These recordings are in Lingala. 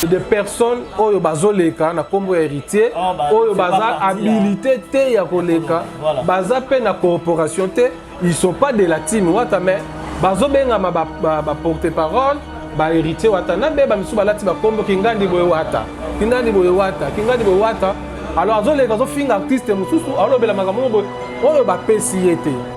de personnes oyo bazoleka na kombo ya héritier ah, bah, oyo baza hein. habilité te ya koleka baza pe na corporation te ils sont pas de la team wata mais bazobengama ba, ba, ba porte parole ba héritier wata na beba misusu balati bakombo kingandi boye wata kingandi boye wata kingandi boye wata alors azoleka azofinga artiste mosusu alobela makambo oyo bapesi ye te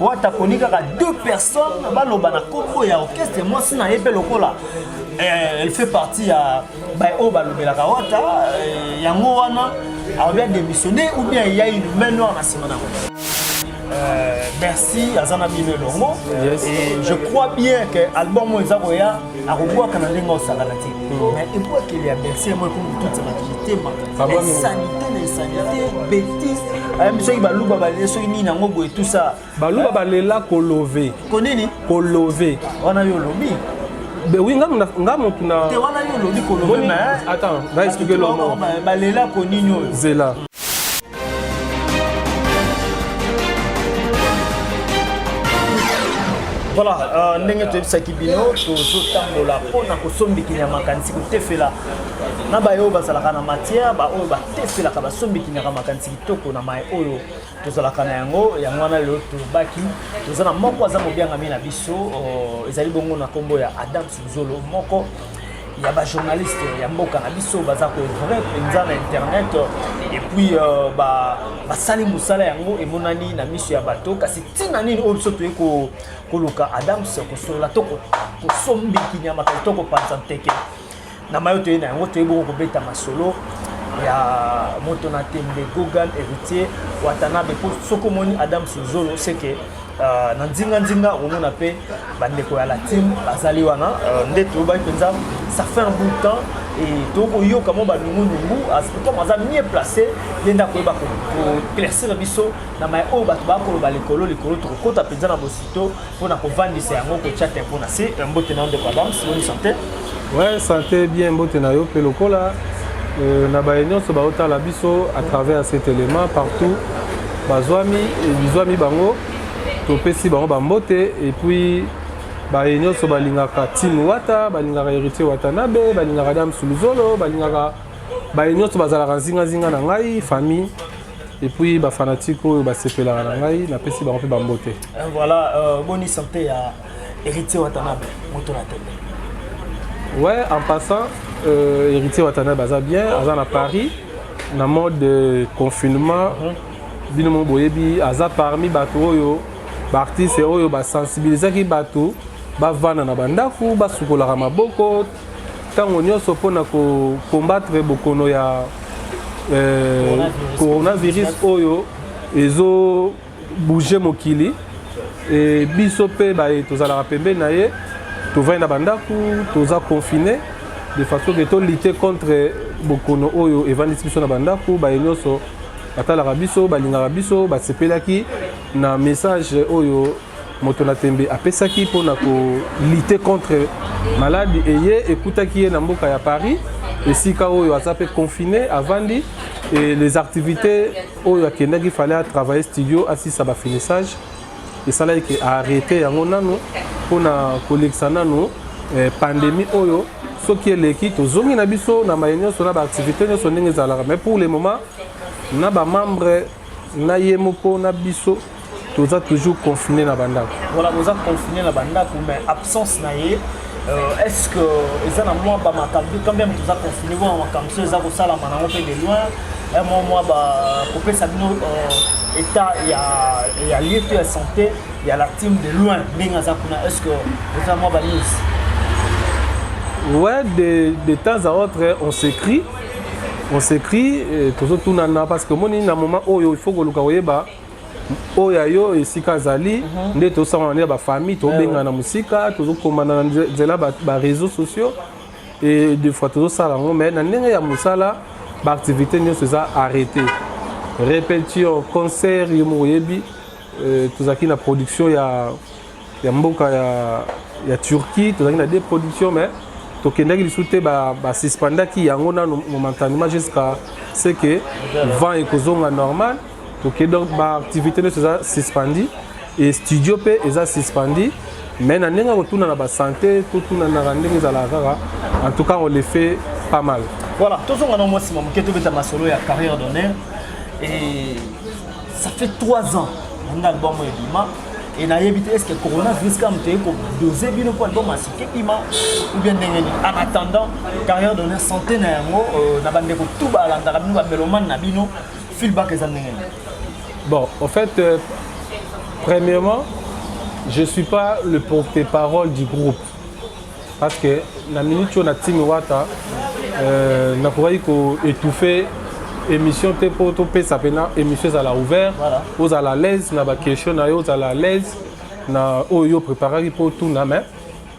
wata koni kaka deux personnes baloba na kombo ya orchestre mwasi na ye mpe lokola eh, elle fait partie ya baoyo balobelaka wata eh, yango wana alobi adémissionne ou bien ya une main noire na nsima na yango euh, merci aza na bino elongo et je crois bien que album oyo eza koya akobwaka na ndenge osakana te hmm. mais ebwakeli ya berse yango ekomi kotutisa bato mitema esanite na esanite betise ayambi soki baluba balela soki nini yango boye tusa baluba balela kolove konini kolove wana yo olobi oui nga muna nga mutu na te wana yo olobi kolove mais attends nga expliquer lomo balela konini oyo zela voilà euh, ndenge toyebisaki bino tozotambola mpo na kosombiki ya makanisi kotefela na baye oyo bazalaka na matière baoyo batefelaka basombikinyaka makanisi kitoko na mai oyo tozalaka na yango yango wana lelo tobaki toza na moko aza mobiangami na biso euh, ezali bongo na nkombo ya adam suzolo moko ya ba journaliste ya mboka na biso baza ko vrai mpenza na internet et puis euh, ba basali mosala yango emonani na miso ya bato kasi ntina nini oyo biso toye koluka adams kosolola to kosombi kinyama kasi to kopanza nteke na mayo toye na yango toye bongo kobeta masolo ya moto na tembe gogan héritier watanabe mpo soki omoni adams zolo seke Uh, na nzinganzinga omona mpe bandeko ya latine bazali wana uh, nde toyobaki mpenza ça fait un bout de temps et tokoyoka mwa banungunungu comme aza mieux placé ye nde akoyeba koclaircir biso na mai oyo bato bakoloba likolo likolo tokokota mpenza na bosito mpo na kovandisa yango kotya tempo na se mbote na ndeko adams boni sante Ouais, santé bien mbote na yo mpe lokola euh, na baye nyonso baotala biso à travers cet élément partout bazwami bizwami bango topesi bango bambote et puis baye nyonso balingaka tim wata balingaka héritier watanabe balingaka dame suluzolo balingaka baye nyonso bazalaka nzinganzinga na ngai famille et puis bafanatike oyo basepelaka na ngai napesi bango mpe bambote voilà euh, boni santé ya Héritier Watanabe, moto na tembe. Ouais, en passant, euh, Héritier Watanabe aza bien, aza na Paris, na mode de confinement. Mhm. Bino mo boyebi, aza parmi bato oyo, ba artistes oyo ba sensibilisaki bato bavanda na bandako, basukolaka maboko ntango nyonso mpo na kokombattre bokono ya euh, coronavirus oyo ezo bouger mokili e, biso mpe baye tozalaka pembeni na ye tovandi na bandako toza confine de façon ke tolite contre bokono oyo evandisi biso na bandako baye nyonso batalaka biso balingaka biso basepelaki na message oyo moto na tembe apesaki mpo na kolite contre maladi eye ekutaki ye na mboka ya paris esika oyo aza mpe confine avandi et les activités oyo akendaki fale a travailler studio asisa ba finissage esalaki ke arrete yango nano mpo na kolekisa nano eh, pandemie oyo soki eleki tozongi na biso na maye nyonso na baactivité nyonso ndenge ezalaka mais pour le moment na bamembre na ye moko na biso toza toujours confine na bandako voilà toza confine na bandako mais absence na ye euh, est ce que eza na mwa bamakambo quand même toza confine wana makambo so eza kosalama nango mpe de loin un mwa mwa bakopesa bino euh, état ya, ya lieu to ya santé ya la team de loin ndenge aza kuna est ce que eza mwa banews ouais de, de temps à autre on s'écrit on s'écrit tozotunana parce que omoni na moment oyo il faut koluka koyeba oh, oyo ya yo esika azali mhm. nde tosangana nde ya bafamille tobengana na mosika tozokomana na nzela bareseau sociaux e de fois tozosala yango mai na ndenge ya mosala baactivité nyonso eza arrêté répétition concert yo moko oyebi euh, tozalaki na production ya ya mboka ya, ya Turquie tozalaki na deux productions mais tokendaki lisusu te basuspendaki ba yango nano momentanement jusqu'à ce que vent ekozonga normal toke donc baactivité nyonso eza suspendi e studio mpe eza suspendi mais na ndenge ya kotuna na basante totunanaka ndenge ezalaka kaka en tout cas on le fait pas mal voilà tozonga na mwa nsima moke tobeta masolo ya carrière d'honneur et ça fait 3 ans nanga album ebima et nayebi te estce coronavirus kaka moto eye kodose bino mpo album asiki ebima ou bien ndenge nini en attendant carrière donner santé na yango euh, na bandeko tout balandaka bino bamelomane na bino feedback eza ndenge nini bon au fait euh, premièrement je suis pas le porte-parole du groupe parce que na minute oyo na timi wata euh, nakokaki ko étouffer émission te mpo topesa mpena émission ezala ouvert voilà. ozala à l'aise na baquestion na yo ozala à l'aise na oyo yo préparaki mpo otuna mais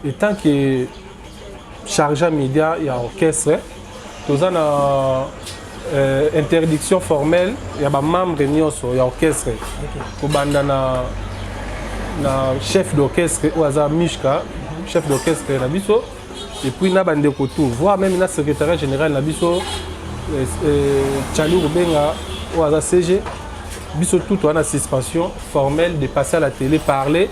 etant que chargea média ya orchestre toza na euh, interdiction formelle ya bamembre nyonso ya orchestre okay. kobanda na, na chef d'orchestre oyo aza mishka mhm. chef d'orchestre na biso epuis na bandeko tout voire meme na secrétariat général na biso euh, euh, chali kobenga oyo aza cg biso tout wana suspension formelle de passer à la télé parler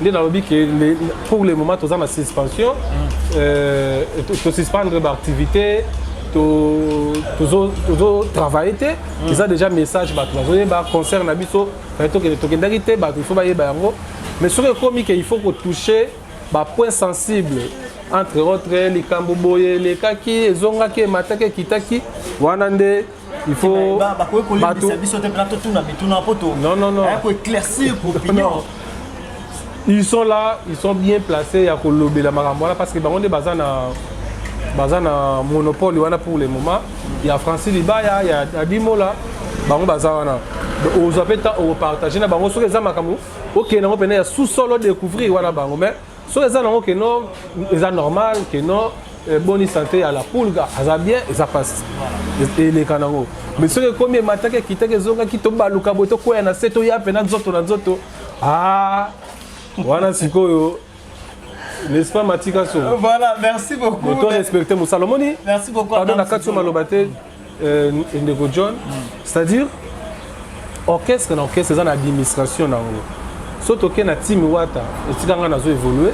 nde nalobi ke pour le moment toza na suspension mm. euh, tosuspendre baactivité tozotravaille te mm. eza déjà message bato bazoyeba concert na biso tokendaki te bato ifo bayeba yango mais soki ekomi ke il faut kotouche bapoint sensible entre autres likambo boye elekaki ezongaki emataki ekitaki wana nde il faut bakoki kolembisa biso te mpena totuna mituna mpo tokoeclaircir opinion ils sont là ils sont bien placés ya kolobela makambo wana parce que bango nde baza na baza na monopole wana pour le moment ya francis libaya ya adimola bango baza wana ozwa mpe temps opartage na bango soki eza makambo okende yango mpena ya sous-sol odecouvrir wana bango mais soki eza nango ke no eza normal ke no eh, boni sante ya la pulga aza bien eza mpasi eleka nango mais soki ekomi emataki ekitaki ezongaki tobaluka boye tokwea na se toya mpena nzoto na nzoto ah, wana sikoyo n'est-ce pas matika so voilà merci beaucoup to respecte mosala omoni merci beaucoup pardon na kati yo maloba te Euh, ndeko john c'est-à-dire orchestre na orchestre eza na administration na yango so tokei na timi wata etika ngai nazo évolue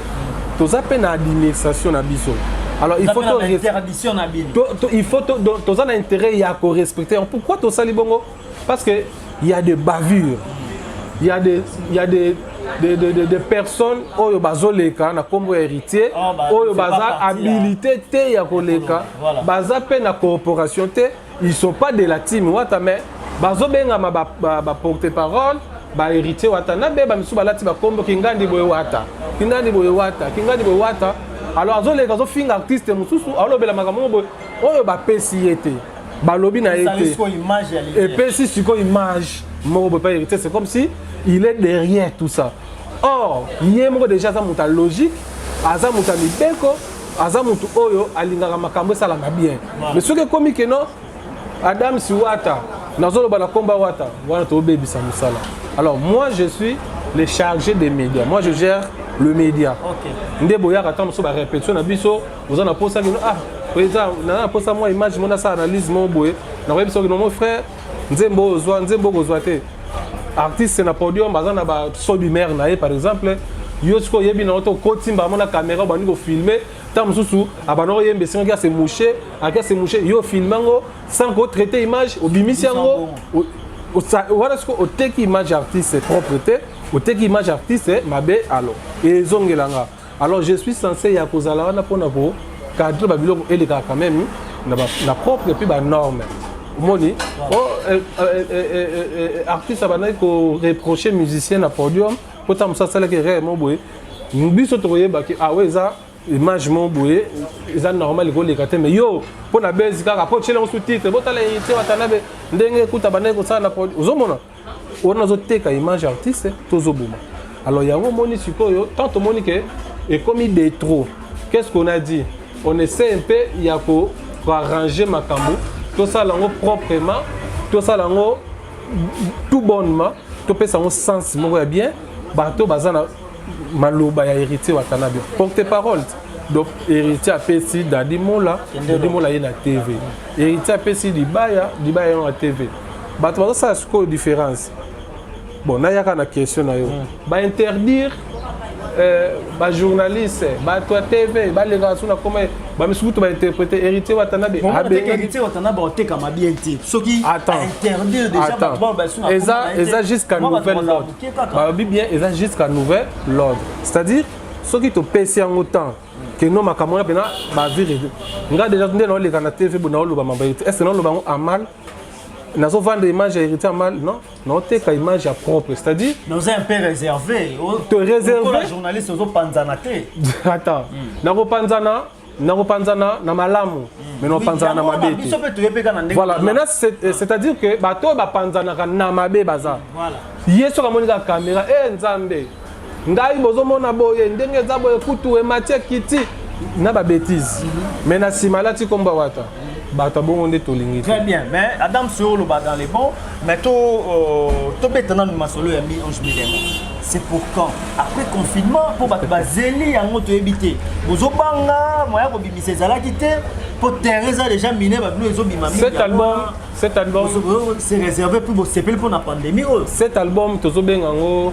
toza mpe na administration na biso alors il faut to, to, il faut toza na intérêt ya korespecte pourquoi tosali bongo Parce que il y a des bavures. Il y a des il y a des de, de, de, de personnes oyo bazoleka na nkombo ya héritier oh, ba, oyo baza habilité te ya koleka voilà. baza mpe na corporation te ils sont pas de la team wata mais bazobengama baporte ba, ba parole baheritier wata na beba misusu balati bakombo kingandi boye wata kingandi boye wata kingandi boye wata alors azoleka azofinga artiste mosusu alobela makambo moko boye oyo bapesi ye te balobi na ye te epesi sikoyo image moko boye pa héritier c'est comme si il est derrière tout ça or ye moko déjà aza moto ya logique aza moto ya mibeko aza moto oyo alingaka makambo esalama bien mais soki ekomi keno adam siwata nazoloba na komba wata wana tobebisa mosala alors moi je suis le chargé des médias moi je gère le média nde boyaka ntango mosusu barépétition na biso oza na posa kino ah eza na posa mwa image mona sa analyse moko boye nakoyebisa kino mon frère nzembo oyo ozwa nzembo okozwa te artiste na podium aza na ba sodi mare na ye par exemple yo sikoyo oyebi na oto okotimba yango na kamera obandi kofilme ntango mosusu abanda koyemba esengaki ase mouche aki ase mouche yo ofilme yango sans kotraite image obimisi yango wana sikoyo oteki image artiste propre te oteki image artiste mabe alo ezongela nga alors je suis censé ya kozala wana mpona ko cadre babiloko elekaka quand même na propre mpe banorme omoni artiste abandaki koreproche musicien na podium mpo ntango mosusu asalaki erreur mo boye biso tokoyebaki awa ah eza image mo boye eza normal ekoleka te mais yo mpo na bezi kaka mpo otyela mosusu titre botala ete watanabe ndenge ekuta bandaki kosala na podium ozomona wana azoteka image ya artiste tozoboma alors yango omoni sikoyo tant tomoni ke ekomi de trop qu'est ce qu'on a dit on essaie mpe ya koarrange makambo tosala yango proprement tosala yango tout bonnement topesa yango sens moko ya bien bato baza na maloba ya héritier watanabe porte parole donc héritier apesi dadi mola dadi mola ye na tv héritier apesi libaya libaya ye na tv bato bazosala sikoyo différence bon nayaka na question na yo hmm. bainterdire euh, bajournaliste bato ya tv balekaka so na koma bamisusu kutu bainterprete héritier watanabe otekamama bien te soki eza jusqu'à nouvelle lord balobi bien eza jusqu'à nouvelle lord c'est-à-dire soki topesi yango temps que no makambo wana mpena bavire nga deja nde naoleka na tv bo naoloba mambo ye te est ce que naoloba yango amal nazo vendre image ya héritier mal non naoteka image ya propre c'est à dire naoza un peu réservé te réservé journaliste ozopanzana te attends hmm. nakopanzana nakopanzana na malamu hmm. mais nakopanzana na mabe te voilà maintenant euh, c'est à dire que bato oyo bapanzanaka na mabe baza ye soki amoni kaka caméra e nzambe ngai bozomona boye ndenge eza boye kutu ematie kiti na ba bêtise mais na nsima alati kombo ya wata bato abongo nde tolingi très bien mais adam soyo oloba dans les bons mais to euh, tobeta nanu masolo ya mi ange milemo c'est pour quand après confinement mpo bato bazeli yango toyebi te bozobanga moya kobimisa ezalaki te mpo terrain eza déjà mine babino ezobima cet album cet album c'est réservé mpo bosepeli mpo na pandémie oyo cet album tozobenga yango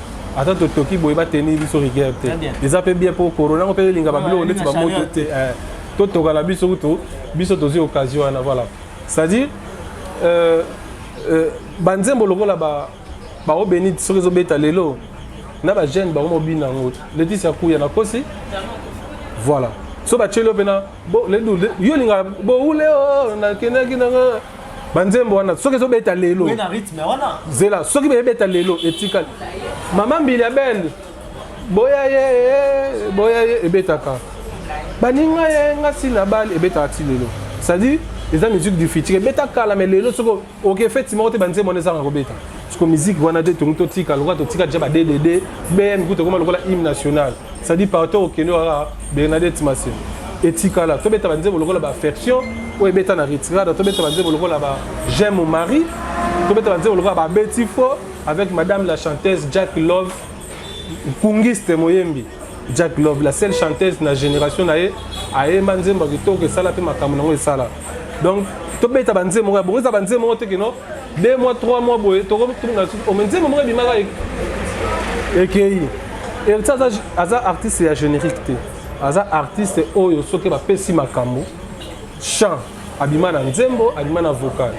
ata totoki boye bateni biso rigueur te eza mpe bien mpo corona yango mpe elinga babiloko ndeti bamoto te eh, totoka na biso kutu biso tozwi occasion wana voilà c'est-à-dire euh, euh, banzembo lokola baobeni soki ezobeta lelo na bajeune bango mobina yango letisi ya kuya nakosi voilà so batyeli yo mpena yo olingaka boule oh, nakendaki nanga banzembo wana soki ezobeta lelo zela soki beyebeta lelo etikali mama mbili ya bende boya ye boya ye ebetaka baninga ye ngasi na bale ebetaka ti lelo c'est-à-dire eza musique du futur ebeta kala me lelo soki oke efeti moko te banzembo wana ezanga kobeta siko miziki wana te tongi totika lokola totika deja baddd bm kuta ekoma lokola hymne national ça dit partout okende kaka bernadette masina etikala tobeta banzembo lokola baaffection oyo ebeta na retirada tobeta banzembo lokola ba j'aime mon mari tobeta banzembo lokola babeti fo avec madame la chanteuse jack love nkungiste moyembi jack love la seule chanteuse na génération na ye ayemba nzembo ya kitoko esala mpe makambo na yango esala donc tobeta banzembo ya bongo eza banzembo moko te kino deux mois trois mois boye tokotunga lisusu nzembo moko ebimaka ekei eriti aza artiste ya générique te aza artiste oyo soki bapesi makambo chant abima na nzembo abima na vocal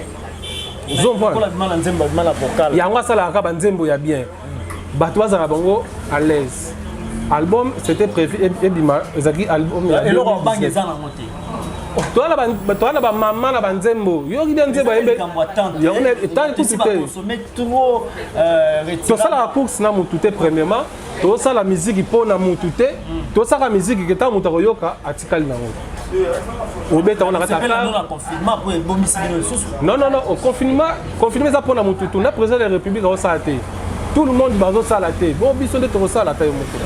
yango asalaka kaka banzembo ya bien bato bazala bango à l'aise album c'était prévu ebima ezalaki album eloko obangi eza nango te toza na bamama na banzembo yoki bia nzembo ayembeetali kutu te tosalaka course na motu te premièrement tosala miziki mpo na motu te tosaka miziki ke ntango moto akoyoka atikali nango obeta wana kata non non non au confinement confinement eza mpona motu tu na président de la république aosala te tout le monde bazosala te bo biso nde tokosala ata yo moko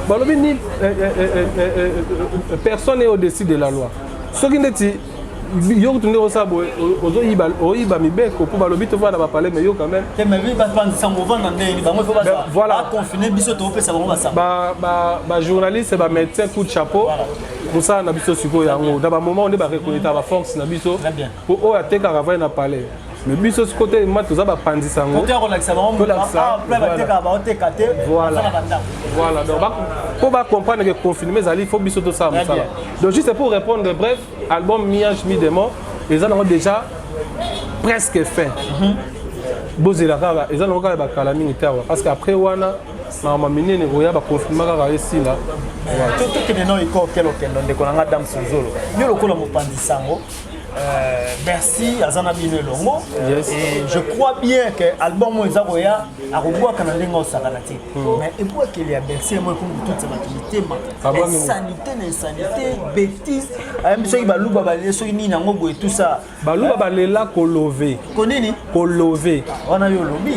balobi ni eh, eh, eh, personne est au-dessus de la loi soki ndeti yo kutu nde osala boye oyiba mibeko mpo balobi tovanda na bapale me yo quand même bajournaliste bamédecin coup de chapeau mosala na biso sikoyo yango na bamoment nde barekoneta baforce na biso mpo oyo atekaka vai na palais me biso siko te ma toza bapanzi sango mpo bacomprendre ke confinement ezali fo biso tosala mosala donc juste pour répondre bref album miage mi demo eza nango déjà presque fin mhm. bozela kaka eza nango kaka bakala mingi te awa parce que après wana makambo minene koya bakonfirma kaka esila tokende na eko okende okende ndeko na nga dame sozolo yo lokola mopanzi sango Euh, bercy aza na bino elongo et je crois bien que album oyo eza koya akobwaka na ndenge osakana te hmm. mais ebwakeli ya bercy yango ekomi kotutisa bato mitema ah, insanité na insanité bétise ayambi soki baluba balie soki nini yango boye tout ça baluba balela kolove konini kolove wana yo olobi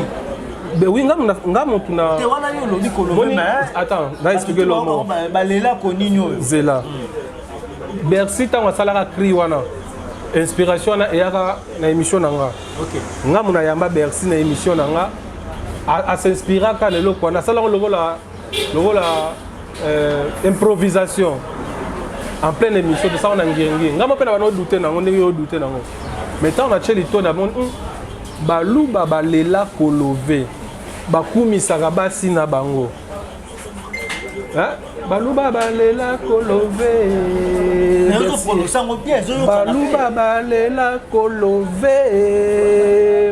Ben oui, nga nga mutu na te wana yo lobi ko lobi mais attends, na expliquer le mot. Ba lela ko nini oyo? Zela. Bercy tango asalaka cri wana. Inspiration wana eyaka na émission na nga. OK. Nga muna yamba Bercy na émission na nga. A, a s'inspiraka na eloko wana asalaka lokola lokola euh, improvisation en pleine émission tosala na ngenge ngai mopena bana odute nango ndenge yo odute nango mais ntango natye litoni amoni hmm, baluba balela kolove bakumisaka basi na bango baluba balela kolove baluba balela kolove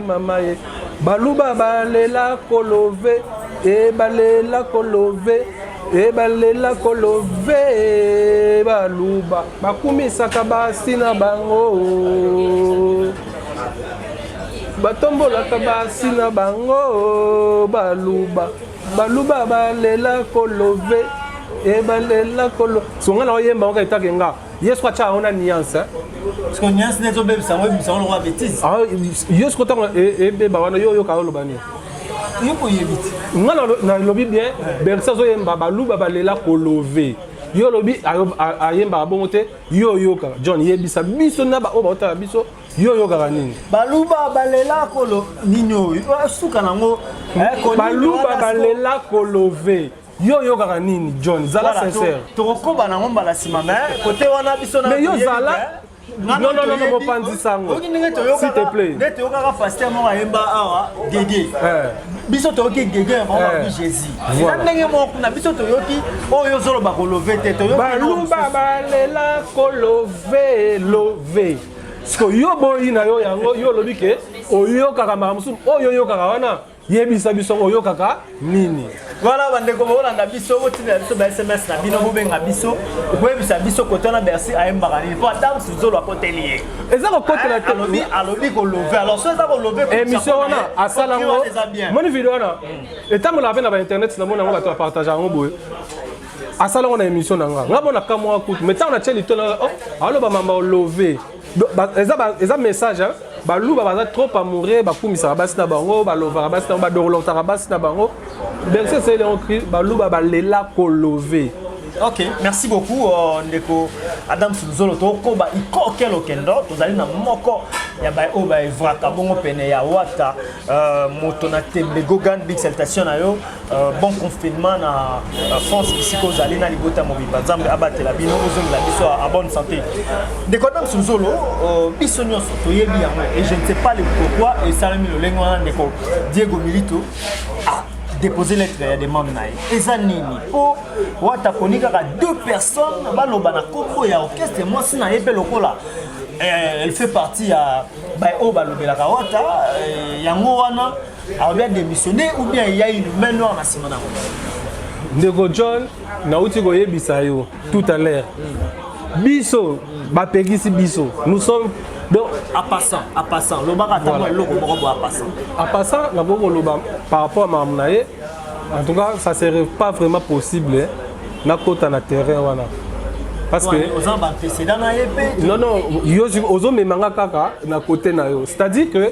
mama ye baluba balela kolove e balela kolove e balela kolove baluba bakumisaka basi na bango batombolaka basi na bango baluba baluba balela kolove e balela kolo songa na oyemba oka etake nga Yesu kwa cha ona nuance hein. Parce que nuance nezo bebisa ngo bebisa ngo kwa bêtise. Ah Yesu kwa tango e beba wana yo yo ka loba nini? Yo ko yebiti. Nga na lobi bien bersa zo yemba baluba balela ko love. Yo lobi ayemba bongo te yo yo ka John yebisa biso na ba oba otala biso yo oyokaka nini baluba balela kolo nini oyo suka nango eh, baluba balela kolove yo oyokaka nini john zala sincère tokokoba nango mbala nsima mais kote wana biso mais yo zala mopanzi sango s'il te plaît nde toyokaka paster moko ayemba awa gege eh. biso toyoki gege yango eh. babi jésus eza ndenge moko kuna biso toyoki oyo ozoloba kolove te toyokibaluba balela kolove love siko yo boyi na yo yango yo olobi ke oyokaka makambo mosusu oyo oyokaka wana yebisa biso oyokaka nini wana bandeko bokolanda biso botinela biso ba sms na bino bobenga biso boyebisa biso kote wana bercy ayembaka nini mpo ata mosusu zolo akoteli ye eza kokotela eh, te alobi kolove alors so eza kolove émission wana asala yango moni video wana hmm. etambola mpe na bainternet na mona yango bato bapartage yango boye asala yango na émission na nga nga mona kamwa kutu mai ntango natye litola oh, aloba mamba olove eza message hein? baluba baza trop amoureux bakumisaka basi na bango balovaka basi na bango badorlotaka basi na bango berse esali yango baluba balela kolove ok merci beaucoup euh, ndeko adam sunzolo tokoba ikokel okendo tozali na moko ya baye oyo baevraka bongo pene ya wata euh, moto na tembe gogan big salutation na yo Euh, bon confinement na euh, france bisika ozali na libota mobimba nzambe abatela bino ozongela biso a bonne santé ndeko adam suzolo euh, biso nyonso toyebi yango et je ne sais pas le pourquoi esalami lolenge wana ndeko diego milito ah, déposer lettre ya demande na ye eza nini mpo wata aponi kaka deux personnes baloba na kombo ya orchestre mwasi na ye mpe lokola eh, elle fait partie ya baoyo balobelaka wata eh, yango wana eh, alobi ademissione ou bien eya une main noire na nsima na ndeko john nauti koyebisa yo tout à l'heure biso bapekisi biso nous sommes donc à passant à passant lobaka ata mwa eloko moko bo à passant à passant nakoki koloba par rapport ya makambo na ye en tout cas ça serait pas vraiment possible nakota na terrain wana parce que oza ba précédent na ye pe non non yo ozomema nga kaka na côté na yo c'est à dire que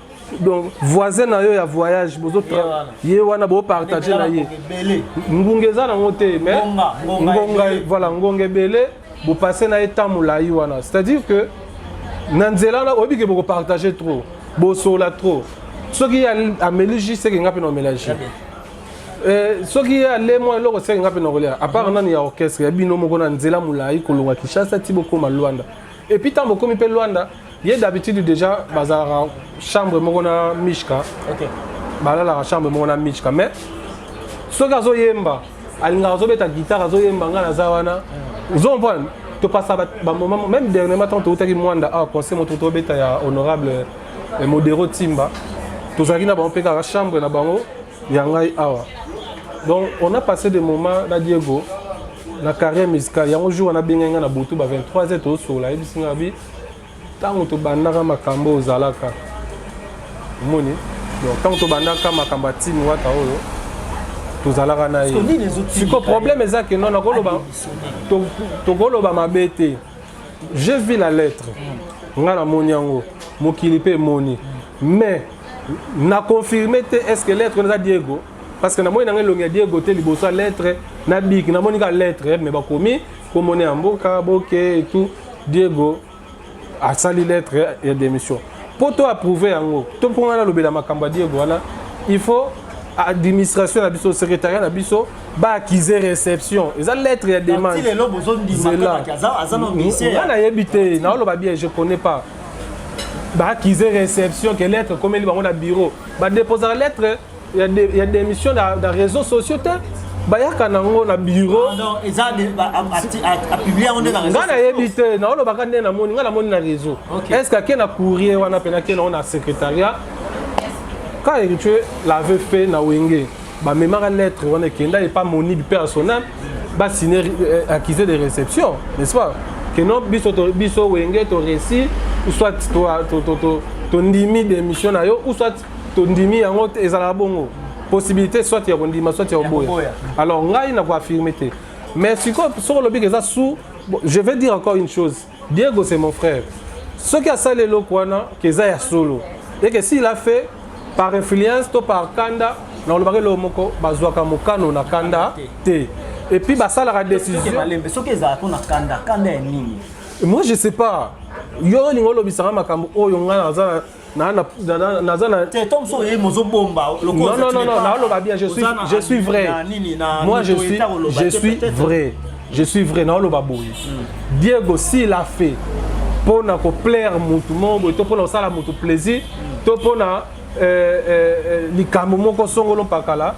donc voisin na yo ya voyage bozo ye wana bo partage na ye ngunga eza nango te mais ngonga voilà ngonga ebele bopasse na ye temps molai wana c'est à dire que na nzela wana oyebi ke bokopartage trop bosola trop soki ye ameli jus seke nga mpe na omela jus Eh, soki ye ale mwa eloko seke nga mpe nakolia apart nani ya orchestre ya bino moko na nzela molai kolonga kinshasa ti bokoma lwanda Et puis tango komi pe Luanda, ye d'habitude déjà bazalaka chambre moko na Mishka. OK. Balalaka chambre moko na Mishka mais soki azoyemba alingaka azobeta guitare azoyemba ngai naza wana mm. ozo comprendre topasa bamoment même dernièrement ntango toutaki mwanda awa ah, conseil moto tobeta ya honorable eh, modero timba tozalaki na bango mpe kaka chambre na bango ya ngai awa donc on a passé des moments na diego na carrière musicale yango jour wana abengai ngai na butu ba 23 heures tozosola ayebisi ngai abi ntango tobandaka makambo ozalaka omoni donc ntango tobandaka makambo ya timi wata oyo tozalaka na ye siko problème eza ke non nakoloba tokoloba mabe te je vis la lettre mm. ngai namoni yango mokili mpe emoni mm. mais na confirme te est ce que lettre wana eza diego parce que namoni nanga elongi ya diego te liboso ya lettre na biki namoni ka lettre eh, mais bakomi komone ya mboka boke etout diego asali lettre ya démission mpo to approuve yango to mpo ngai nalobela makambo ya diego wana il faut administration na biso secrétariat na biso baakize réception eza lettre ya demande ngai nayebi te naoloba bien je connais pas baakize réception ke lettre ekomeli bango na bureau badeposaka lettre ya, de, ya démission na, na réseau sociaux te bayaka nango na bureau ngai nayebi te naolobaka nde namoni ngai namoni na réseau okay. est ce que ake na courrier wana mpe nake nango na secrétariat ka héritier l'avait fait na wenge bamemaka lettre wana ekenda epa monib mpe asonal basine euh, accusé de réception n'est-ce pas que non biso biso wenge toresi soit tondimi démission na yo ou soit tondimi yango ezalaka bongo possibilité soit ya kondima soit ya koboya alors ngai na koaffirme te mais sikoyo soki olobiki eza sous je vais dire encore une chose Diego c'est mon frère. Soki asali eloko wana keza ya solo. Et que s'il a fait par influence to par kanda na olobaka eloko moko bazwaka mokano na kanda te. Et puis basalaka décision. Soki ezala ko na kanda, kanda ya nini? Moi je sais pas. Yo olinga olobisanga makambo oyo ngai naza naza na te to mosu oye mozobomba lokolanaloba bien je suis, je suis vrai moi je suis, je suis vrai je suis vrai naoloba boye hmm. diego s'il a fait mpo na koplaire motu moko boye to mpo na kosala motu plaisir to mpo na euh, euh, euh, likambo moko songolo mpakala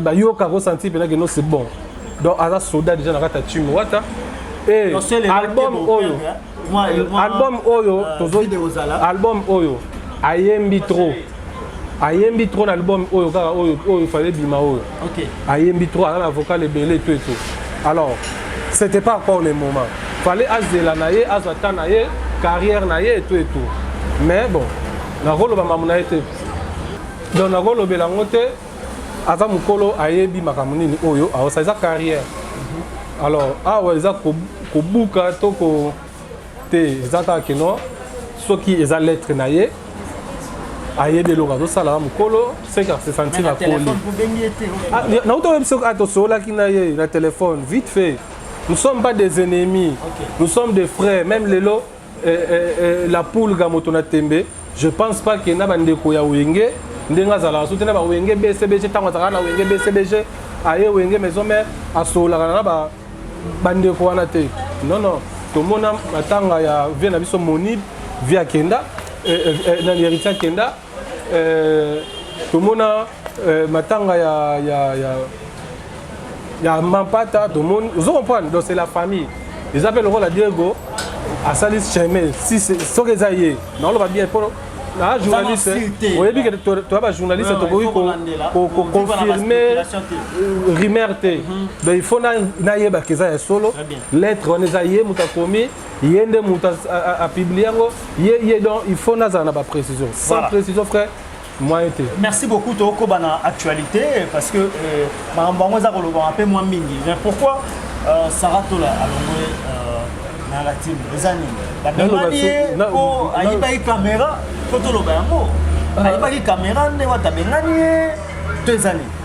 bayoka ko sentir mpenza que non c'est bon donc aza soda déjà na kati ya timi wata eh, album oyo album oyo euh, tozo album oyo ayembi trop ayembi trop na album oyo kaka oyo oyo fallait bima oyo ayembi trop aza na vocal ebele to eto alors c'était pas encore le moment fallait azela na ye azwa temps na ye carrière na ye eto eto mais bon nakoloba mamu na ye te donc nakolobela yango te aza mokolo ayebi makambo nini oyo aosa eza carrière mhm. alors awa eza kobuka to ko te eza kaka keno soki eza lettre na ye ayebi eloko azosala mokolo seka se sentir akoli ah, nauta oyebi soki atosololaki ah, na ye na telefone vite fait nous sommes pas des ennemis okay. nous sommes des frères même lelo eh, eh, eh, la pulga moto na tembe je pense pas que na bandeko ya wenge ndenge azalaka so te na bawenge bcbg ntango azalaka na wenge bcbg aye wenge maison mare asololaka na bandeko wana te non non tomona matanga ya vie na biso monib vie akenda eh, eh, eh, nani héritier akenda Euh, tomona euh, matanga ya, ya, ya, ya mampata tomoni ozo comprendre donc c'est la famille eza mpe lokola diego asali chemin si soki eza ye naoloba bien mpo na journaliste oyebi ke toya bajournaliste tokoki koconfirme rumeur te donc il faut nayebaka eza ya solo lettre wana eza ye moto akomi ye nde moto apiblie yango ye ye donc il faut nazala na baprécision sans voilà. précision frère moyen te merci beaucoup tokoba na actualité parce que euh, makambo yango eza kolobama mpe mwa mingi mais pourquoi euh, sarah tola alongwe euh, na latine eza nini babengani ye mpo ayibaki kamera mpo toloba yango ayibaki kamera nde wata abengani ye to eza nini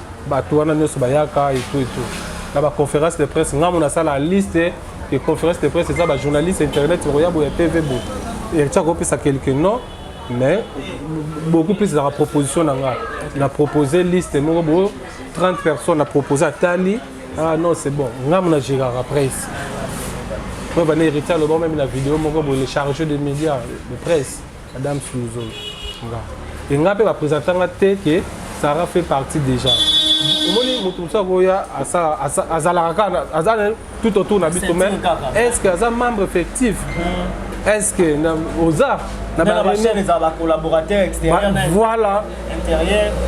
bato wana nyonso bayaka etu etu na baconférence de presse ngambo nasala liste e conférence de presse eza bajournaliste internet bakoya boya tv bo etia kopesa quelque nom mais beaucoup plus ezalaka proposition na nga na propose liste moko bo 30 personnes na propose atali ah non c'est bon ngambo na gerara presse oyo bana héritier aloba meme na video moko boye le chargé de média de presse Madame Suzo, nga. Et nga pe ba presenta nga te que Sarah fait partie déjà. omoni moto mosusu akoya azalaka kaka aza tout autour na biso mais est ce que aza membre effectif hmm. est ce que oza na bacollaborateurs extérieur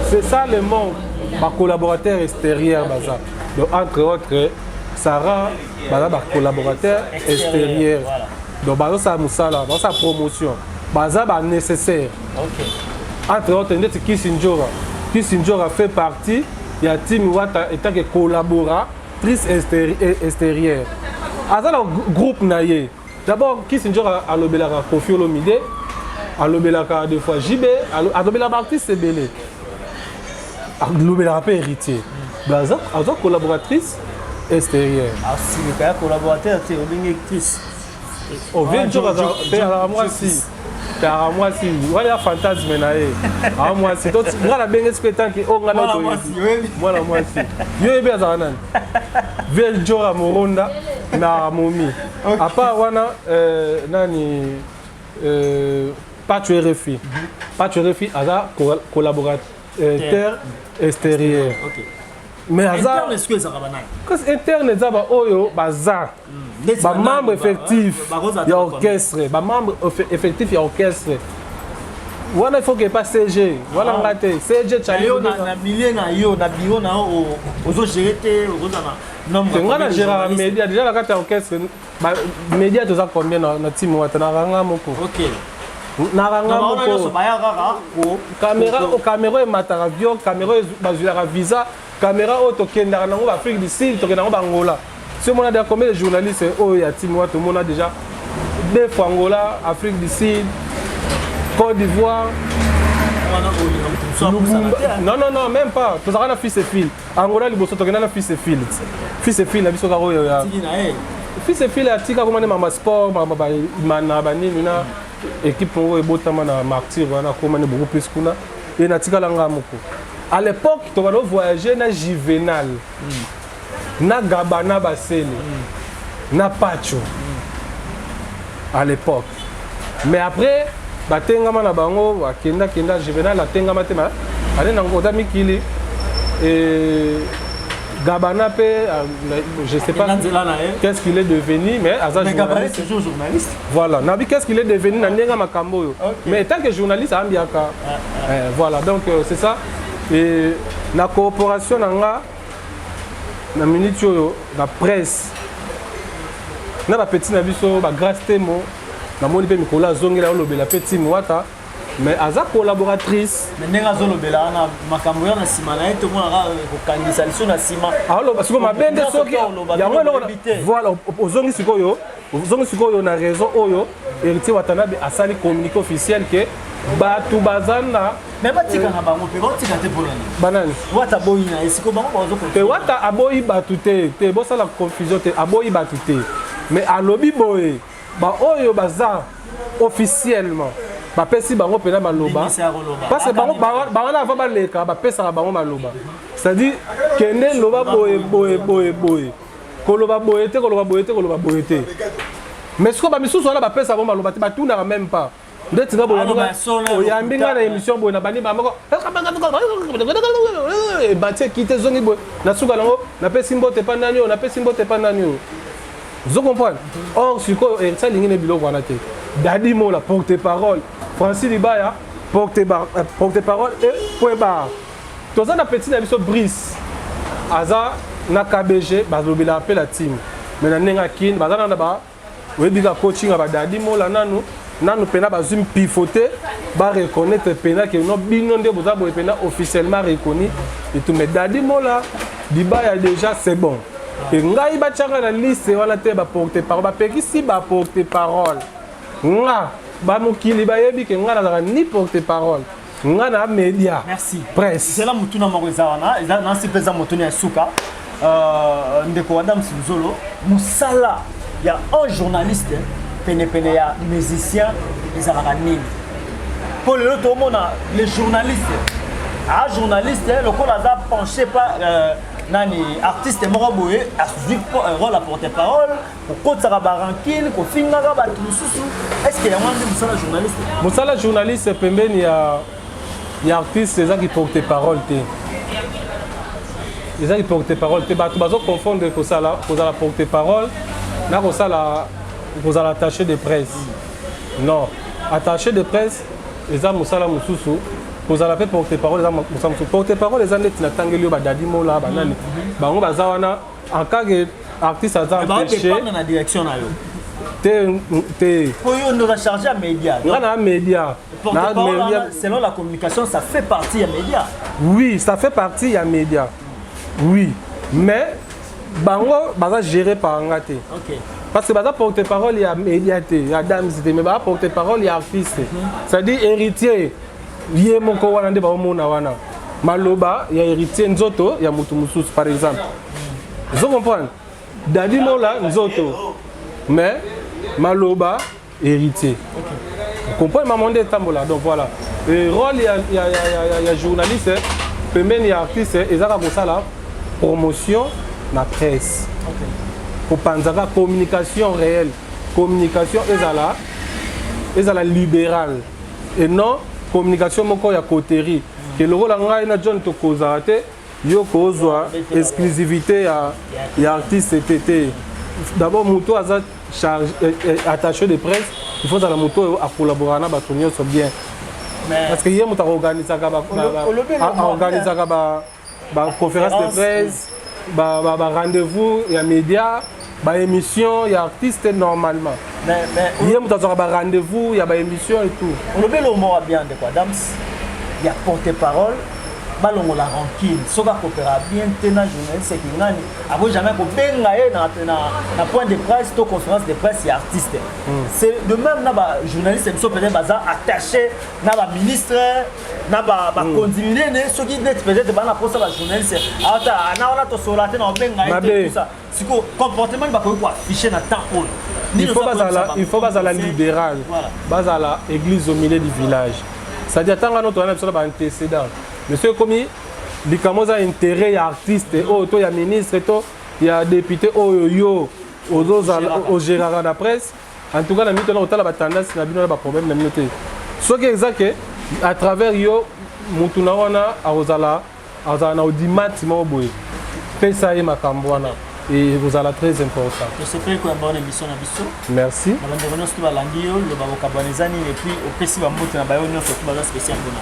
c'est ça le manque bacollaborateurs extérieur baza donc entre autres sarah baza bacollaborateurs extérieur donc bazosala mosala bazosala promotion baza ba nécessaire okay. entre autres ndeti kisindjora kisindjora fait partie ya timi wata etake collaboratrice extérieure aza na groupe na ye d'abord kisindjora alobelaka kofi olomide alobelaka de fois jb alobelaka baartiste ebele alobelaka mpe héritier aza collaboratrice extérieure asilika ya collaborateur te olingi actrice ovie njoka azalaka mwasi tara mwasi wana ya fantasme na ye aa mwasi nga nabengesi mpe tanke o nga mwana mwasi yo yebi azalaka nani vie njora moronda na momi apart wana euh, nani euh, pacho rfi mhm. pacho rfi aza collaborateur euh, extérieur mais aza interne eza baoyo baza ba membre effectif ya orchestre ba membre effectif ya orchestre wana il faut que pas CG wana ah. nga te CG chali yo na milieu na yo na bureau na yo ozo gérer te oza na nombre nga na gérer media déjà la carte orchestre ba media toza combien na na team wata na ranga moko OK na ranga moko kamera kamera emataka vio kamera bazwilaka visa Camera oyo tokendaka nango ba Afrique du Sud, tokenda nango ba Angola. Si omona déjà combien de journalistes oyo ya team wa tomona déjà deux fois Angola, Afrique du Sud, Côte d'Ivoire. Non non non, même pas. Tozaka na fils et fil. Angola liboso tokenda na fils et fil. Fils et fil na biso kaka oyo ya. Fils et fil atika komane mama sport, mama ba imana ba nini na équipe oyo ebotama na martyr wana komane beaucoup plus kuna. e natikala nga moko à l'époque tokado voyage na juvenal mm. na gaba na basele mm. na pacho mm. à l'époque mais après batengama na bango bakenda kenda juvenal atengama te ale nango oza mikili e, Gabana pe, euh, je sais pas qu'est-ce qu'il est devenu, mais Aza mais Gabana c'est toujours journaliste. Voilà, Nabi qu'est-ce qu'il est devenu na ndenga makambo yo. Okay. Mais tant que journaliste ambiaka. Ah, ah. Eh, voilà, donc euh, c'est ça. Et la coopération na nga na minute oyo la presse na ba petit na biso ba grâce temo na moni pe mikolo azongela olobela pe timo wata mais aza collaboratrice mais ndenge azolobela wana makambo oyo na nsima na ye tomonaka euh, kokangisa liso na nsima aloba sikoyo mabe nde soki yango eloko voilà ozongi sikoyo ozongi sikoyo na raison oyo héritier watanabe asali communiqué officiel ke bato baza na me batika na bango mpe baotika te mpo nani banani wata aboyi na ye sikoyo bango baozokote wata aboyi bato te te bosala confusion te aboyi bato te mais alobi boye ba oyo baza officiellement bapesi bango mpena maloba parce que bango bango na avant baleka bapesaka bango maloba c'est-à-dire kende loba boye boye boye boye koloba boye te koloba boye te koloba boye te mais sikoyo bamisusu wana bapesa bango maloba te batunaka même pas ndeti nga boyambi nga na émission boye na bandi ba moko ebati ekite ezongi boye na suka nango napesi mbote epa nani oyo napesi mbote epa nani oyo ozo comprendre or sikoyo heritier alingi na biloko wana te dadi mola porte parole francis libaya porte euh, parole e point bar toza na petit na biso brice aza na kbg balobelaka mpe la team mais na ndenge ya kin baza na na ba oyebi ka coaching ya badadi mola nanu nanu mpena bazwi mpifo te bareconnaitre mpena ke no bino nde boza boye mpena officiellement reconnu etume dadi mola libaya déjà c'est bon mpe ngai batyaka na liste wana te baporte parole bapekisi baporte parole nga bamokili bayebi ke ngai nazalaka ni porte parole nga na media merci presse zela mutuna moko eza wana eza na sipe eza mutuna ya suka euh, ndeko wa dame sinzolo musala ya un journaliste penepene ya musicien ezalaka nini mpo lelo tomona le journaliste a ah, journaliste eh, lokola aza penche pa euh, nani artiste moko boye azwi euh, role ya porte parole kokotisaka barankine kofingaka bato mosusu estce yango nde mosala journaliste mosala journaliste pembeni ya ya artiste eza kiporte parole te eza kiporte parole te bato bazoconfondre kosala kozala porte parole na kosala kozala attaché de presse non attaché de presse eza mosala mosusu kozala mpe porte parole eza mosala mosusu porte parole eza ndeti natangeli yo badadimola banani bango baza wana en cas que artiste aza Mais baoyo empêché dépendre na direction na yo te te po yo nde oza charge ya média nga na media na porte-parole media wana selon la communication ça fait partie ya média oui ça fait partie ya media oui mais bango baza géré par nga te ok parce que baza porte parole ya media te ya dames te mais baza porte parole ya artiste c'est à dire héritier ye moko wana nde baomona wana maloba ya héritier nzoto ya moto mosusu par exemple ozo comprendre dadi mola nzoto mais maloba héritier comprendre mama nde etambola donc voilà Et rôle ya, ya, ya, ya, ya journaliste pembeni ya artiste ezaka kosala promotion na presse kopanzaka communication réelle communication ezala ezala libérale et non communication moko ya coterie ke lokola ngai na john tokozala te yo kozwa exclusivité ya, ya artiste te te d'abord moto aza charge eh, eh, attaché de presse il faut azala moto oyo akollaboraka na bato nyonso bien parce que ye moto akoorganisaka aorganisaka ba ba conférence de presse ba ba, ba rendez-vous ya média ba émission ya artiste normalement mais mais ye moto azwaka ba rendez-vous ya ba émission et tout olobi eloko moko ya bien ndeko adams ya porte parole balongola rancune soki akopera bien te na journaliste ekingani ako jamais kobenga ye na, na, na point de presse to conférence de presse ya artiste mm. c'est de même na bajournaliste biso peut-être baza attaché na baministre na bakonzi minene soki neti peut-être bana mposa bajournaliste ata na wana tosola te na obenga yetusa sikoyo comportement ni bakoki koaffiche na temps oyo il faut bazala libéral bazala église au milieu du village c'est-à-dire ntanga no toyana biso na baantécédent mais soki ekomi likambo oza intérêt ya artiste oyo to ya ministre to ya député oyo yo ozozala ogéraka na presse En tout cas, na mito na kotala ba tendance na bino na ba problème na bino te. Soki eza que à travers yo mutu na wana akozala azala na audimat moko boye pesa ye makambo wana ekozala très important tosepeli koyamba wana émission na biso merci na bandeko nyonso to balandi yo loba bokabwana eza nini epuis opesi bambote na bayo nyonso to baza spécial mpona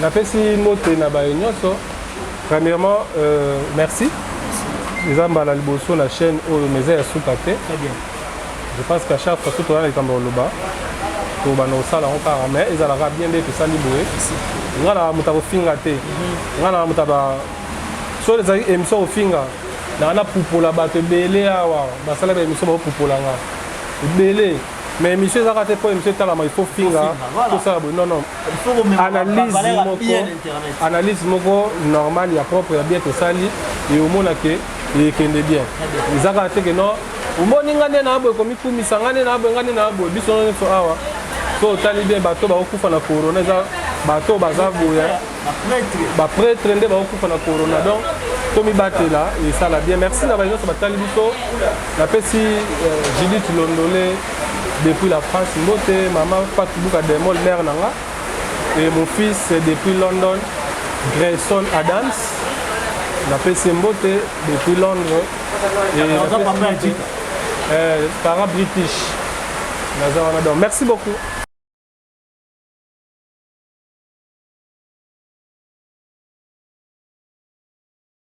napesi mbote na bayo nyonso premièrement euh, merci eza mbala liboso na chaîne oyo mais eza ya suka te je pense qu'à chaque fois soki oza na likambo ya koloba tolobana osala yango kaka mais ezalaka bien nde tosali boye nga na moto akofinga te nga na moto aba so ezalaki émission kofinga nanga napupola bato ebele awa basala ba émission bakopupola nga ebele mais émission ezaka te mpo émission etalama il faut finga tosala boye non non analyse moko analyse moko normale ya propre ya bien tosali eomona ke ekende bien ezaka te ke non omoni nga nde naa boye komikumisa nga nde naa boye nga nde naa boye biso nyonso awa so otali bien bato bakokufa na corona eza bato oyo baza boya bapretre nde bakokufa na corona donc tomibatela esala bien merci na baye nyonso batali biso napesi euh, judith londole depuis la france mbote mama fatubuka demol mare na nga et mon fils depuis london grayson adams napesi mbote depuis londres Naza papa ya Jika. Eh, para British. Naza wana donc merci beaucoup.